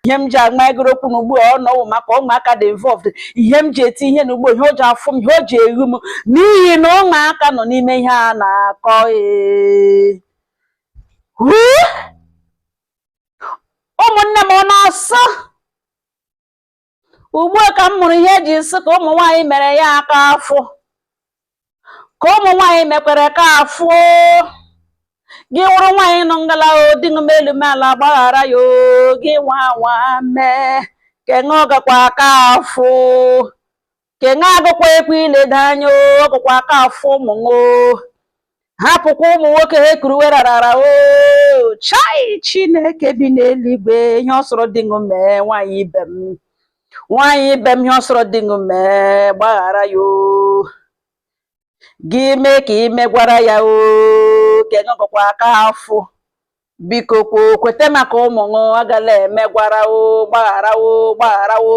ihe m ji agma egoro okwu n'ugbu a ọ nọwụ maka ụmụaka dị involved ihe m ji eti ihe n'ugbo ihe o ji afụ m ihe o ji eghu m n'ihi na ụmụaka nọ n'ime ihe a na-akọ ee. Huu! ụmụnne m ọ na-asọ ugbu a ka m mụrụ ihe e ji sị ka ụmụ nwaanyị mere ya aka afụ ka ụmụ nwaanyị mekwere aka afụ gị wụrụ nwaanyị nọ ngala di ṅụ mee elu mee ala gbaghara ya oo, gị nwa nwa mee ke ṅụ ọ gakwa aka afụ ke ṅụ agụkwa ekwe ileda anya ọ gụkwa aka afụ ụmụ ṅụ hapụkwa ụmụ nwoke ha ekuruwe rarara o chai chineke bi n'eluigwe ihe ọ sọrọ di ṅụ mee nwaanyị ibe m nwaanyị ibe m ihe ọ sọrọ di ṅụ mee gbaghara ya o gị mee ka i megwara ya o ke ṅụ ọ gụkwa aka afụ biko kwo kwete maka ụmụ ṅụ agala emegwara o gbaghara o gbaghara o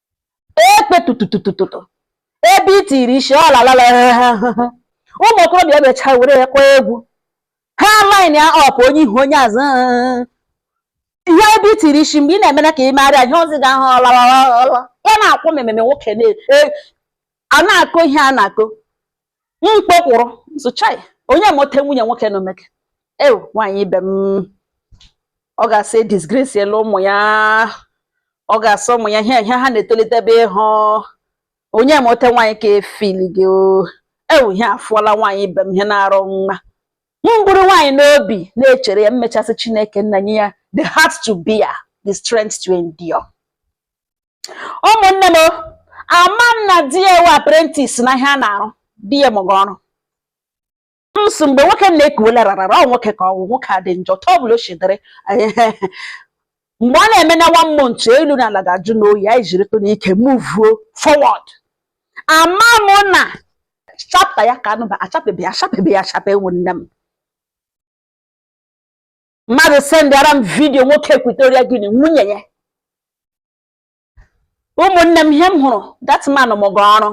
ekpe tututututu ebe i tiri isi ọ lalala ụmụ okorobịa emecha were ya kpọọ egwu ha line ya up onye ihu onye azụ ihe ebe i tiri isi mgbe ị na-emere ka ị marịa ihe ozi ga-ahụ ọlọlọlọ ya na-akwụ m ememe nwoke na- e- a na-akọ ihe a na-akọ mkpe kwụrụ m sị chai onye mote nwunye nwoke na omeke ewu nwaanyị ibe m ọ ga-asị disgrace elu ụmụ ya ọ ga-asị ụmụ ya ihe ihe ha na-etolite ebe ịhụ onye mote nwaanyị ka efili gị ewu ihe afụọla nwaanyị ibe m ihe na-arụ mma m buru nwaanyị n'obi na-echere ya m mechaa sị chineke nna nye ya the heart to bear the strength to endure ụmụnne m ama m na di ya wụ apprentice na ihe a na-arụ di ya mụga ọrụ m sị mgbe nwoke na-ekuwela rarara ọ wụ nwoke ka ọ wụ nwoke a dị njọ otu ọ bụla o si dịrị mgbe ọ na-eme na one month elu na ala ga-ajụ oyi anyị jiritụnụ ike muvuo forward ama m na chapter ya ka anụba achapebeghị achapebeghị achape ụmụnne m mmadụ sendara m vidiyo nwoke Equatorial Guinea nwunye ya ụmụnne m ihe m hụrụ that man mụga ọrụ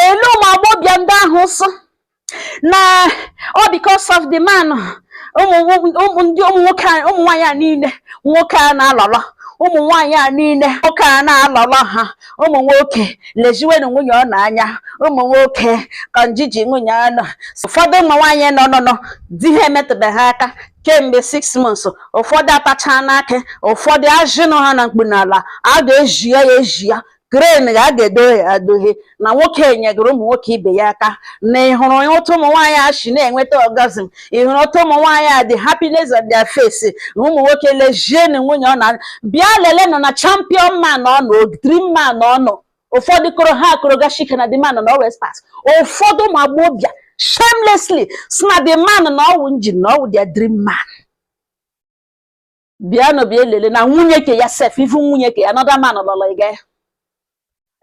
elu ụmụ agbọbịa ndị ahụ sị na ọ because of the man ụmụ nwaanyị a niile nwoke a na-alọlọ ụmụ nwaanyị a niile nwoke a na-alọlọ ha ụmụ nwoke leziwenụ nwunye ụnụ anya ụmụ nwoke ka njiji nwunye ụnụ ụfọdụ ụmụ nwaanyị nọ nọ nọ di ha emetụbeghị ha aka kemgbe six months ụfọdụ atachaa n'aka ụfọdụ ajị nọ ha na mkpu n'ala a ga-eji ya ya eji ya crane ga a ga-edohe ya adohe na nwoke enyegoro ụmụ nwoke ibe ya aka na ị hụrụ otu ụmụ nwaanyị a si na-enweta orgasm ị hụrụ otu ụmụ nwaanyị a the happiness on their face ụmụ nwoke lejienu nwunye ọ na bịa lelenụ na champion man ụnụ dream man ụnụ ụfọdụ koro ha akoro gashika na the man na always pass ụfọdụ ụmụ agbọghọ bịa shamelessly si na the man na ọwụ engine na ọwụ their dream man bịanụ bịa lele na nwunye ke ya sef ivu nwunye ke another man lọrọ ịga ya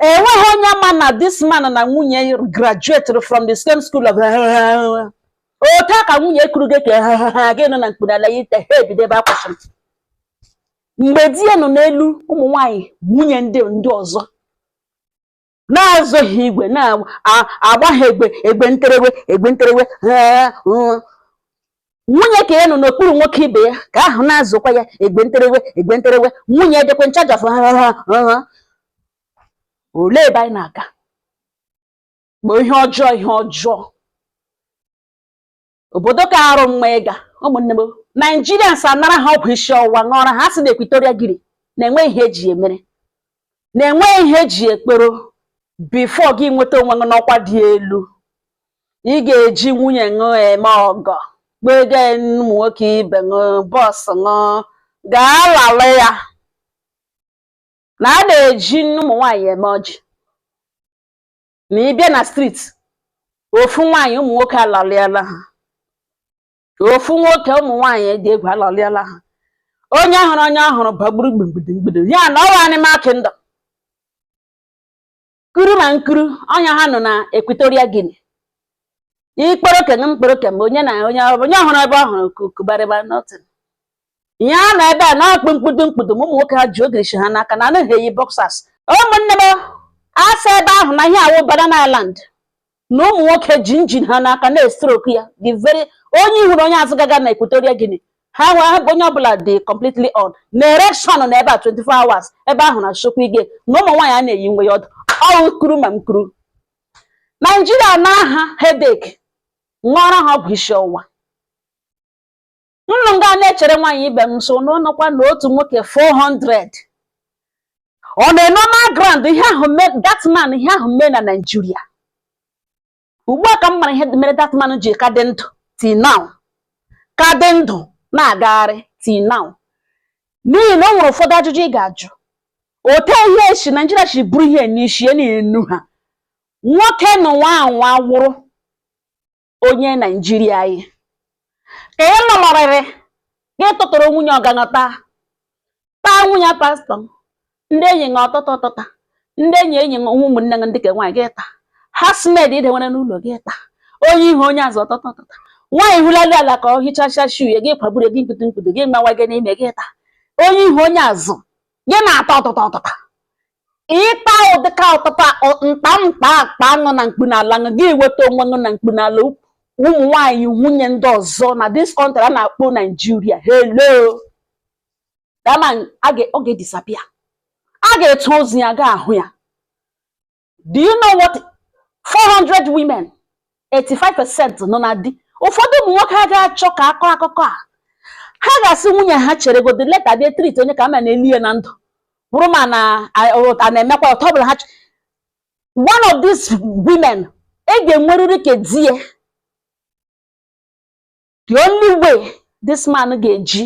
enweghị onye ma na this man na nwunye graduated from the same school of otu a ka nwunye kuru gị ka gị nọ na mkpunala ya ite ha ebido ebe a kwụsịrị mgbe di ya nọ n'elu ụmụ nwanyị nwunye ndị ndị ọzọ na-azụghị igwe na-agbaghị egbe egbe nterewe egbe nterewe nwunye ke ya nọ n'okpuru nwoke ibe ya ke ahụ na-azụkwa ya egbe nterewe egbe nterewe nwunye dịkwa nchaja fụ olee ebe anyị na-aga kpọọ ihe ọjọọ ihe ọjọọ obodo ka arụ mma ịga ụmụnne m naijirians anara ha ọgwụ isi ọwụwa ṅụọra ha sị na equatorial guinea na enwe ihe eji emere na enwe ihe eji ekporo before gị enweta onwe ṅụ n'ọkwa dị elu ị ga-eji nwunye ṅụ eme ọgọ kpego ụmụ nwoke ibe ṅụ boss ṅụ gaa lala ya na a na-eji ụmụ nwaanyị eme ọjị na ị bịa na street ofu nwaanyị ụmụ nwoke alalịala ha ofu nwoke ụmụ nwaanyị dị egwu alalịala ha onye hụrụ onye ọ hụrụ bagburu gburugburu mgbudu ya na ọwụ animal kingdom kuru ma m kuru ọnya ha nọ na equatorial guinea i kporo ke ṅụ m kporo ke m onye na onye ọ hụrụ ebe ọ hụrụ kukubarịba nothing ihe a na ebe a na-akpụ mkpudu mkpudu ma ụmụ nwoke ha ji ogirishi ha n'aka na anaghị eyi boxers ụmụnne m a sị ebe ahụ na ihe a wụ banana island na ụmụ nwoke ji engine ha n'aka na-estroke ya the very onye ihuru onye azụ gaga na equatorial guinea ha nwe ahụ onye ọbụla dị completely on na erection na ebe a 24 hours ebe ahụ na chukwu ige na ụmụ nwaanyị a na-eyi nwe ya ọdụ ọwụ kuru ma m kuru naijiria na aha headache ṅụọrọ ha ọgwụ isi ọwụwa nọ nga a na-echere nwaanyị ibe m nso na ọ nọkwa na otu nwoke 400 ọ na-eno na grand ihe ahụ mee that man ihe ahụ mee na Naịjirịa ugbu a ka m mara ihe mere that man ji ka dị ndụ till now ka dị ndụ na-agagharị till now n'ihi na o nwere ụfọdụ ajụjụ ị ga-ajụ ote ihe esi Naịjirịa si bụrụ ihe n'isi ya na-enu ha nwoke na nwa anwa wụrụ onye naijiria anyị ka ị lọlọrịrị gị tụtụrụ nwunye ọganọta taa nwunye pastọ m ndị enyi ṅa ọtụta ọtụta ndị enyi enyi ṅa nwa ụmụnne ṅa ndị ke nwaanyị gị taa housemaid i nwere n'ụlọ gị taa onye ihu onye azụ ọtụta ọtụta nwaanyị hụlali ala ka ọ hichacha shu ya gị kwagburu gị mkputu mkputu gị mawa gị n'ime gị taa onye ihu onye azụ gị na-ata ọtụta ọtụta ịta ụdịka ọtụtụ mkpa mkpa akpa aṅụ na mkpu n'ala aṅụ gị weta onwe ṅụ na mkpu n'ala ụmụ nwaanyị nwunye ndị ọzọ na this country a na-akpọ naijiria hello that man ọ ga-edisappear a ga-etu ozu ya ga-ahụ ya do you know what 400 women 85% nọ na di ụfọdụ ụmụ nwoke ha ga-achọ ka a kọọ akụkọ a ha ga-asị nwunye ha cheregodi later bịa treat onye ka a ma na-eli ya na ndụ bụrụ ma na a- ọ- a na-emekwa ya, otu ọ bụla ha ch- one of these women e ga-enwerịrị ka di ya the only way this man ga-eji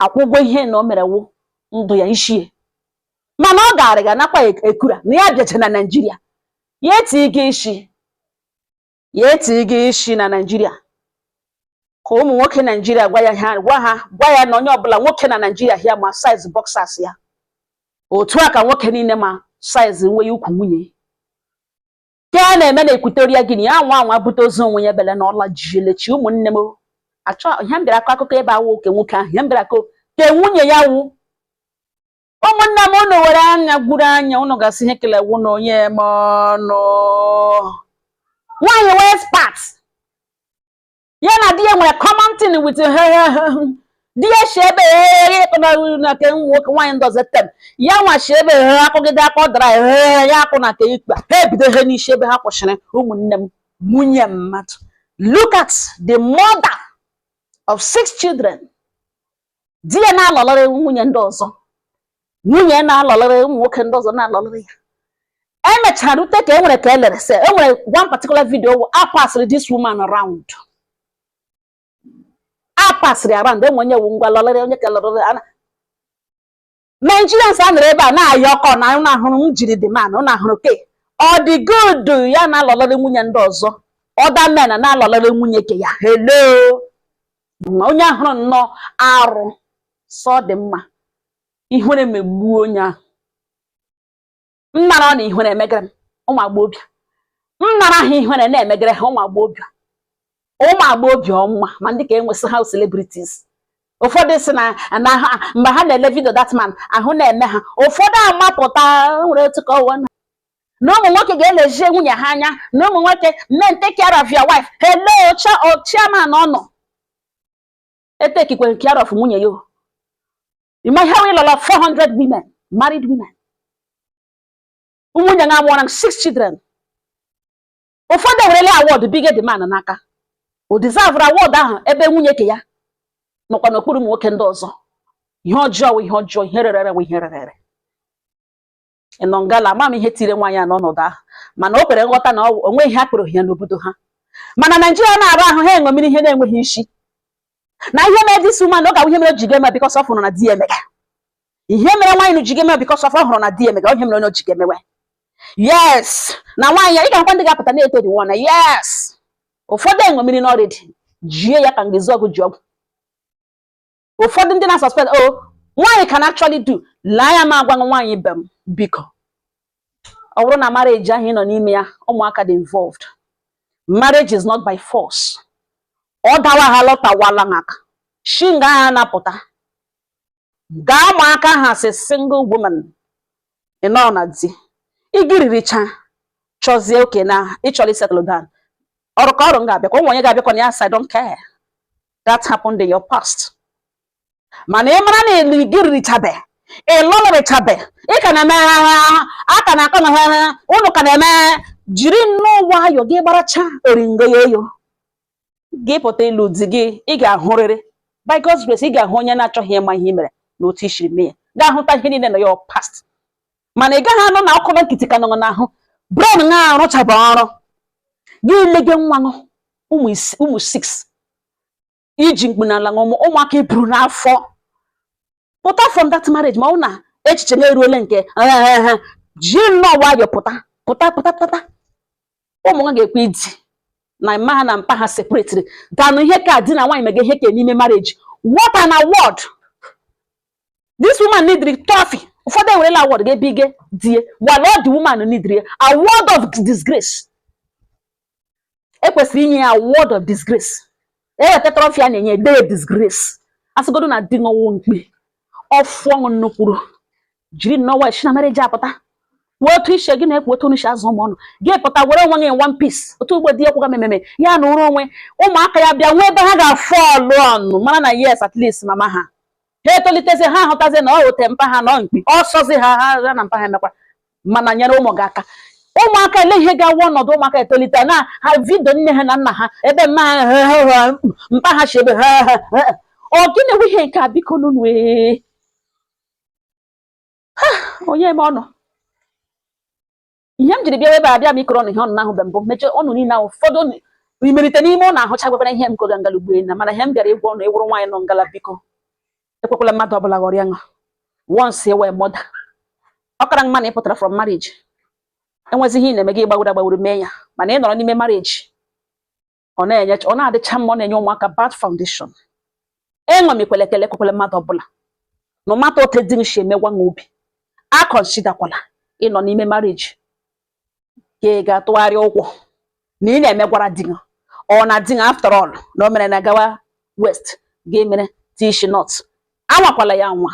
akwụ ụgwọ ihe na o mere wụ ndụ ya ishi e mana ọ gaara ga nakwa e-, ekura na ya bịacha na naijiria ya etighi gị isi ya etighi gị isi na naijiria ka ụmụ nwoke naijiria gwa ya ha gwa ha gwa ya na onye ọbụla nwoke na naijiria here ma size boxers ya otu a ka nwoke niile ma size nwe ya ukwu nwunye Ke a na-eme na Equatorial Guinea, anwa anwa bute ozu onwe ya bele na ọla jielechi ụmụnne m achọ ihe m bịara akọ akụkọ ebe a wụ ke nwoke ahụ ihe m bịara akọ ke nwunye ya wụ ụmụnne m ụnụ were anya gwuru anya ụnụ ga-asị ihe kele wụ na onye eme ọnụ nwaanyị wụ expert ya na di ya nwere common thing with di ya si ebe na ke nwoke nwaanyị ndozi tem ya nwa si ebe he akụgide aka ọ dara he ya akụ na ke ikpe ha ebido he n'isi ebe ha kwụsịrị ụmụnne m nwunye mmadụ look at the mother of six children di ya na-alọlọrị nwunye ndị ọzọ nwunye ya na-alọlọrị ụmụ nwoke ndị ọzọ na-alọlọrị ya emechara rute ka e nwere ka e lere se e nwere one particular video wụ a pasịrị this woman around a pasịrị around enwe onye wu ngwa lọlọrị onye ka lọlọrị ana Nigerians a nọrọ ebe a na-ayọ ọkọ na ụnụ ahụrụ m jiri dị man ụnụ ahụrụ ke ọ dị good ya na-alọlọrị nwunye ndị ọzọ other men na-alọlọrị nwunye ke ya hello Ma onye ahụrụ nnọọ arụ sị ọ dị mma ihere megbuo onye ahụ m nara ọ na ihere emegere m ụmụ agbọghọbịa m nara ha ihere na-emegere ha ụmụ agbọghọbịa ụmụ agbọghọbịa ọma ma ndị ka enwesị ha celebrities ụfọdụ si na na ha mgbe ha na-ele video that man ahụ na-eme ha ụfọdụ amapụta nwere otu kọwa na na ụmụ nwoke ga-elezie nwunye ha anya na ụmụ nwoke men take care of your wife hello cha- o- chairman ọ nọ etekikwe care of nwunye ya o. ịma ihe ọ wụ ịlọla 400 women married women nwunye ya mụọra six children ụfọdụ ewerela award bige the man n'aka o deserve award ahụ ebe nwunye ke ya nọkwa n'okpuru ụmụ nwoke ndị ọzọ ihe ọjọọ ihe ọjọọ ihe rere ihe rere ịnọ ngala ama m ihe tiri nwaanyị a n'ọnọdụ ahụ mana o kwere nghọta na o nwe ihe a kpọrọ ya n'obodo ha mana naijiria na-arụ ahụ ha eṅomiri ihe na-enweghị isi na ihe mere this woman ọ ga ihe mere o ji ga-eme because ọ fụrụ na di emega ihe mere nwaanyị na ji ga-eme because ọ hụrụ na di emega ihe mere onye o ji ga-emewe yes na nwaanyị ya ị ga-akwa ndị ga-apụta na-eto dị nwa na yes ụfọdụ eṅomirina already jie ya ka ngezi ọgụ ji ọgwụ ụfọdụ ndị na-suspect o oh, nwaanyị can actually do laa ya ma agwanụ nwaanyị ibe m biko ọ wụrụ na marriage ahụ ị nọ n'ime ya ụmụaka dị involved marriage is not by force ọ dawa ha lọtawala aka shi nga ahụ na-apụta gaa ma aka as a single woman ị nọ na di igiriricha chọzie okay na ịchọrọ isettle down ọrụ ka ọrụ m ga-abịakwa o nwe onye ga-abịakwa na ya sị I don't care that happened in your past mana ị mara na elu igiririchabe ịlọlịrịchabe ị ka na-eme a ka na-akọ na ụnụ ka na-eme jiri nnọọ nwayọ gị gbaracha oringo ya eyo gị pụta ịlụ di gị ị ga-ahụrịrị by God's grace ị ga-ahụ onye na-achọghị ịma ihe mere na otu i shiri mee ya ga-ahụta ihe niile na your past mana ị gaghị anọ nọkọrọ nkịtị ka nọ n'ahụ brain na-arụchaba ọrụ gị elege nwa nụ ụmụ isii ụmụ six iji mkpu n'ala mụọ ụmụ- ụmụaka iburu n'afọ pụta from that marriage ma ọ bụ na echiche gị eruole nke ehehe ji nnọọ nwayọọ pụta pụta pụta pụta ụmụ nwa ga-ekwe idi na mma ha na mpa ha separatiri than ihe ka di na nwaanyị mega ihe ka n'ime marriage what an award this woman needri trophy ụfọdụ ewerela award ga-ebige di ya while all the woman needri ya award of disgrace ekwesịrị inye ya award of disgrace eweta trophy a na-enye dee disgrace asịgodo na di ṅụwụ mkpi ọfụ ọṅụ nnukwuru jiri nnọọ wee si na marriage apụta wee otu ishe gị na-ekwu otu unu si azụ ụmụ unu gị pụta were onwe gị in one piece otu ugbo di ya kwụga mememe ya na ụrụ onwe ụmụaka ya bịa nwee ebe ha ga-afụ ọlụ ọnụ mara na yes at least mama ha ha etolitezi ha ahụtazi na ọ ote mpa ha nọ mkpi ọsọzi ha ha na mpa ha emekwa mana nyere ụmụ gị aka ụmụaka ele ihe ga-awụ ọnọdụ ụmụaka etolite na ha vidio nne ha na nna ha ebe mma ha mpa ha si ebe ha ọ gịnị wụ ihe nke a biko nụnụ ee onye ma ọnụ ihe m jiri bịa ebe a abịa m ịkọrọ ụnụ ihe ụnụ ahụbe mbụ m chee ụnụ niile ahụ ụfọdụ imerite n'ime ụnụ ahụcha gwakwara ihe m kọga ngala ugbu a mana ihe m bịara ịgwa ụnụ ị wụrụ nwaanyị nọ ngala biko ekwekwala mmadụ ọbụla ghọrịa ṅụ once ị wụ mother ọ kara mma na ị pụtara from marriage enwezi ihe ị na-eme gị gbagwuru agbagwuru mee ya mana ị nọrọ n'ime marriage ọ na-enye ọ na-adịcha mma ọ na-enye ụmụaka bad foundation enwemikwele ekele ekwekwala mmadụ ọbụla no matter ote di ṅụ si emegwa ṅụ obi aconsiderkwala ịnọ n'ime marriage ka ị ga-atụgharị ụkwụ na ị na-emegwara di gị or na di gị after all na o mere na gawa west ga emere tishi not anwakwala ya nwa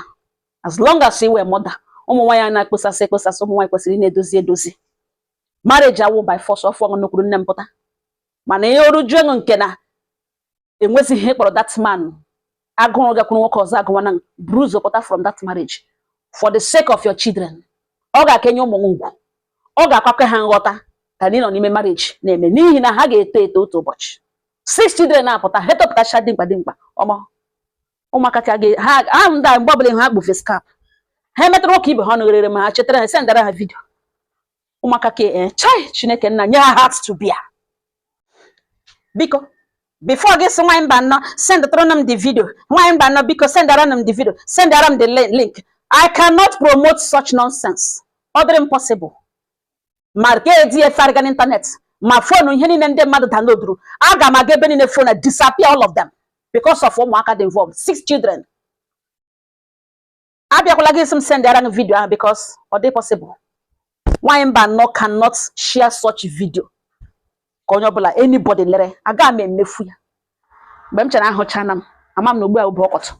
as long as ị wụ mother ụmụ nwaanyị na-ekpesasị ekpesasị ụmụ nwaanyị kwesịrị na-edozi edozi marriage awụ by force ọ fụọ ṅụ n'okwuru nne m pụta mana ihe o rujuo ṅụ nke na enwezighị ihe ị kpọrọ that man agụụ ịgakwuru nwoke ọzọ agụwa ṅụ buru ụzọ pụta from that marriage for the sake of your children ọ ga-aka enye ụmụ ṅụ ugwu ọ ga-akakwa ha nghọta ka na ị nọ n'ime marriage na-eme n'ihi na ha ga-eto eto otu ụbọchị six children na-apụta ha etopụtacha dimkpa dimkpa ọmọ ụmụaka ka ga ha ahụ ndị a mgbe ọbụla ha kpu face cap ha emetara nwoke ibe ha ọnụ ghere ma ha chetara ha sendara ha vidio ụmụaka ka ee eh, chai chineke nna nye ha heart to bear biko before gị sị nwaanyị Mbanọ sendara m the video nwaanyị Mbanọ biko sendara m the video sendara m the link I cannot promote such nonsense ọ dịrị m possible ma ka eji ya efegharịga n'ịntanetị ma fonu ihe niile ndị mmadụ downloaduru aga m aga ebe niile ọ nọ disappear all of them because of ụmụaka dị involved six children abịakwala gị ịsị m sendara gị vidio ahụ because ọ dị possible nwaanyị Mbanọ cannot share such video ka onye ọbụla anybody lere aga m emefu ya mgbe m chere ahụchana m ama m na ugbu a bụ ọkọtụ